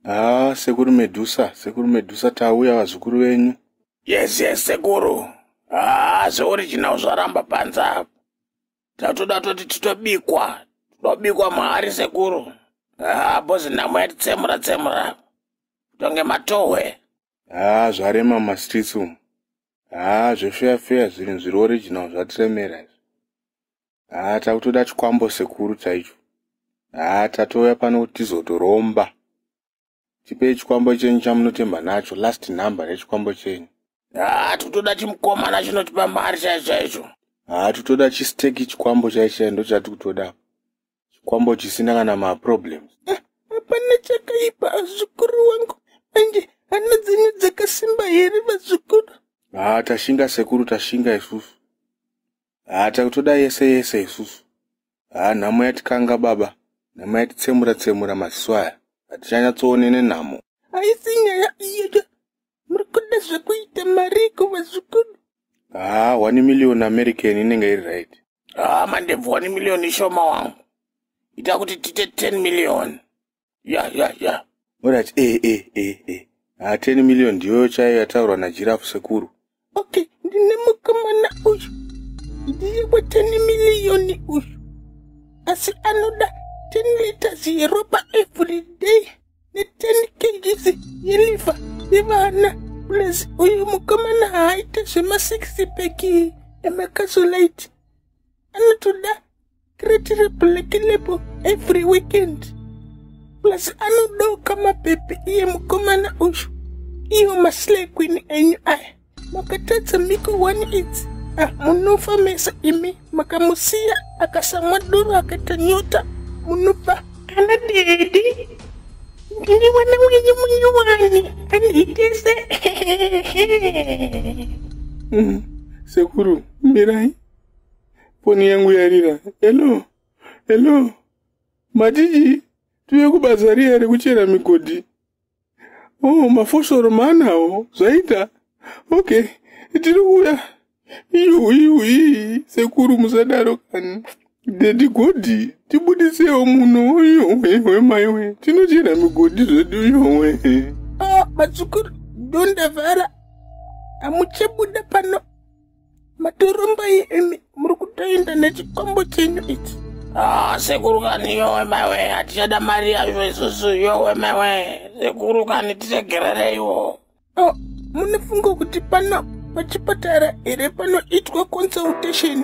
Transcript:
haa sekuru medusa sekuru medusa tauya vazukuru venyu yes yes sekuru haa zveoriginal zvaramba panze apo tatoda toti titobikwa tobikwa mahari sekuru haa bozi nhamo yatitsemura tsemura kutonge matohwe haa zvarema mumastreets umu haa zvefeya feya zvinhu zviri original zvatiremera izvi haa takutoda chikwambo sekuru chaicho haa tatouya pano kuti tizotoromba tipei chikwambo chenyu chamunotemba nacho last number yechikwambo chenyu haa tutoda chimukomana chinotipa mari chaicho chaicho haa tutoda chisteki chikwambo chaicho chai ndo chati kutoda chikwambo chisina kana maproblems eh, hapana ah, chakaipa azukuru wangu manje hana dzenyu dzakasimba here vazukuru haa tashinga sekuru tashinga isusu haa takutoda yese yese isusu haa nhamo yatikanga baba nhamo yatitsemura tsemura maziso aya hatichanyatsoone nenhamo haisi nyaya iyoyo muri kuda zvekuita mariko vazukuru haa one million american inenge iri right haa mandebvu one million ishoma wangu ita kuti tite ten million ya ya ya orati e e e e ha 10 million ndiyoyo chaiyo yataurwa najirafu sekuru okay ndine mukomana uyu ndiye we 10 million uyu asi anoda 10 liters yeropa every day ne10 kgs yeliva yevana plus uyu mukomana haaite zvema 6 peki emakazolite anotoda Kretire black label every weekend. Plus anodoka mapepe iye mukomana uyu. Iyo maslay queen enyu aya. Makatadza miko one idzi. Ah, munofa mese imi makamusiya akasamwa doro akaita nyota munofa ana dedi ndini mwana wenyu munyowani andiitese mm, sekuru mirai foni yangu yarira hello hello matiji tuve kubasa riya rekuchera migodhi o oh, mafosoro maanawo zvaita okay tiri kuuya iyu iyu ii sekuru musadaro kani dedi godhi tibudisewo muno iyowewe maiwe tinochera migodhi zvedu iyowe oh, madzukuru dondavhara hamuchebuda pano matoromba imi muri kutoenda nechikombo chenyu ichi ah, sekuru kani yowe maiwe hatichada mari yacho isusu yowe maiwe sekuru kani tiregerereiwo oh, munofunga kuti pana pachipatara here panoitwa consultation